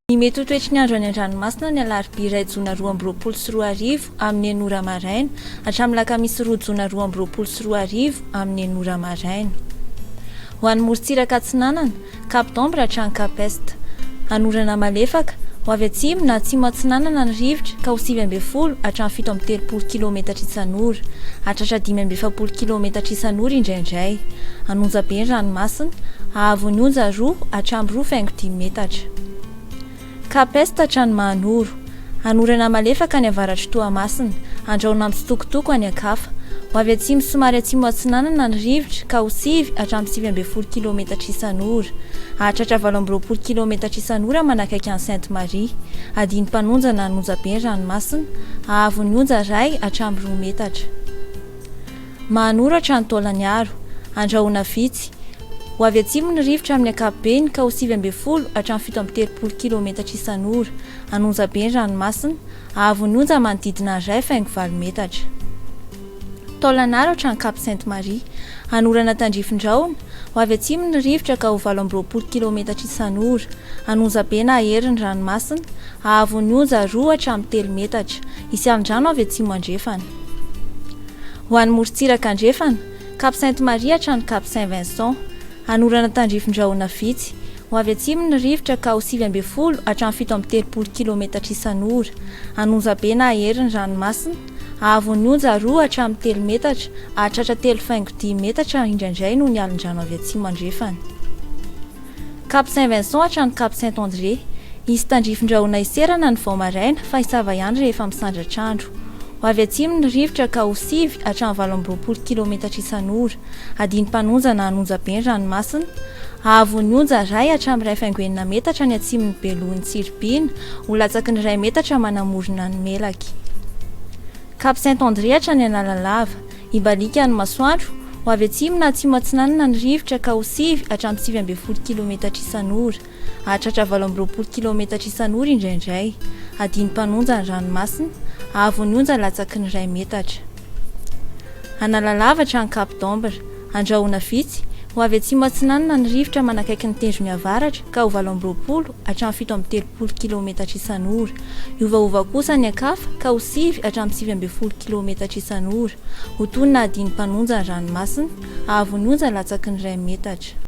Ny mety ho toetry ny andro any an-dranomasina ny alarobia iray jona roa amby roapolo sy roa arivo amin'ny enina ora maraina hatramin'ny alakamisy roa jona roa amby roapolo sy roa arivo amin'ny enina ora maraina. Ho an'ny morontsiraka atsinanana, Cap d'Ombre hatrany Cap Est. Hanorana malefaka, ho avy atsimo na atsimo atsinanana ny rivotra ka ho sivy ambin'ny folo hatramin'ny fito amby telopolo kilaometatra isan'ora, hahatratra dimy amby efapolo kilaometatra isan'ora indraindray. Hanonja be ny ranomasina, hahavon'ny onja roa hatramin'ny roa faingo dimy metatra. Ka peste hatrany Mahanoro. Hanorana malefaka any avaratr'i Toamasina, andrahona mitsitokotoko any Ankafa. Ho avy atsimo somary atsimo atsinanana ny rivotra ka ho sivy hatramin'ny sivy ambin'ny folo kilaometatra isan'ora. Hahatratra valo amby roapolo kilaometatra isan'ora manakaiky an'i Sainte Marie. Adino mpanonja na anonjabe ny ranomasina. Hahavon'ny onja iray hatramin'ny roa metatra. Mahanoratra ny taolan'Iaro. Andrahoina vitsy. Ho avy atsimo ny rivotra amin'ny ankapobeny ka ho sivy ambin'ny folo hatramin'ny fito amby telopolo kilometatra isan'ora. An'onja be ny ranomasina. Ahavon'ny onja manodidina ny iray faingo valo metatra. Taolan'Aratra any Cap Sainte Marie. Hanorana tandrifindraona. Ho avy atsimo ny rivotra ka ho valo amby roapolo kilometatra isan'ora. An'onja be na hery ny ranomasina. Ahavon'ny onja roa hatramin'ny telo metatra. Hisy alin-drano avy atsimo-andrefana. Ho any morontsiraka andrefana, Cap Sainte Marie hatrany Cap Saint Vincent. Hanorana tandrifin-drahona vitsy. Ho avy atsimo ny rivotra ka ho sivy ambin'ny folo hatramin'ny fito amby telopolo kilometatra isan'ora. Hanonja be na hahery ny ranomasina. Hahavon'ny onja roa hatramin'ny telo metatra, hahatratra telo faingo dimy metatra indraindray noho ny alin-drano avy atsimo andrefana. Cap Saint Vincent hatrany Cap Saint André. Hisy tandrifindrahona hiserana ny vao maraina fa hisava ihany rehefa misandratra andro. Ho avy atsimo ny rivotra ka ho sivy hatramin'ny valo amby roapolo kilometatra isan'ora. Adino mpanonja na hanonja be ny ranomasina. Hahavon'ny ny onja iray hatramin'ny iray faingo enina metatra ny atsimon'ny belohan'i Tsiribihina, ho latsaky ny iray metatra manamorona ny melaky. Cap Saint André hatrany Analalava. Hibaliaka ny masoandro. Ho avy atsimo na atsimo atsinanana ny rivotra ka ho sivy hatramin'ny sivy ambin'ny folo kilometatra isan'ora. Hahatratra valo amby roapolo kilometatra isan'ora indraindray. Hadino mpanonja ny ranomasina. Haavo ny onja latsaky ny iray metatra. Analalava hatrany Cap d'Ambre. Andrahona vitsy. Ho avy atsimo atsinanana ny rivotra manakaiky ny tendrony avaratra ka ho valo amby roapolo hatramin'ny fito amby telopolo kilaometatra isan'ora. Hiovaova kosa ny ankafa ka ho sivy hatramin'ny sivy ambin'ny folo kilaometatra isan'ora. Ho toy ny nahadian'ny mpanonja ny ranomasina, hahavon'ny onja latsaky ny iray metatra.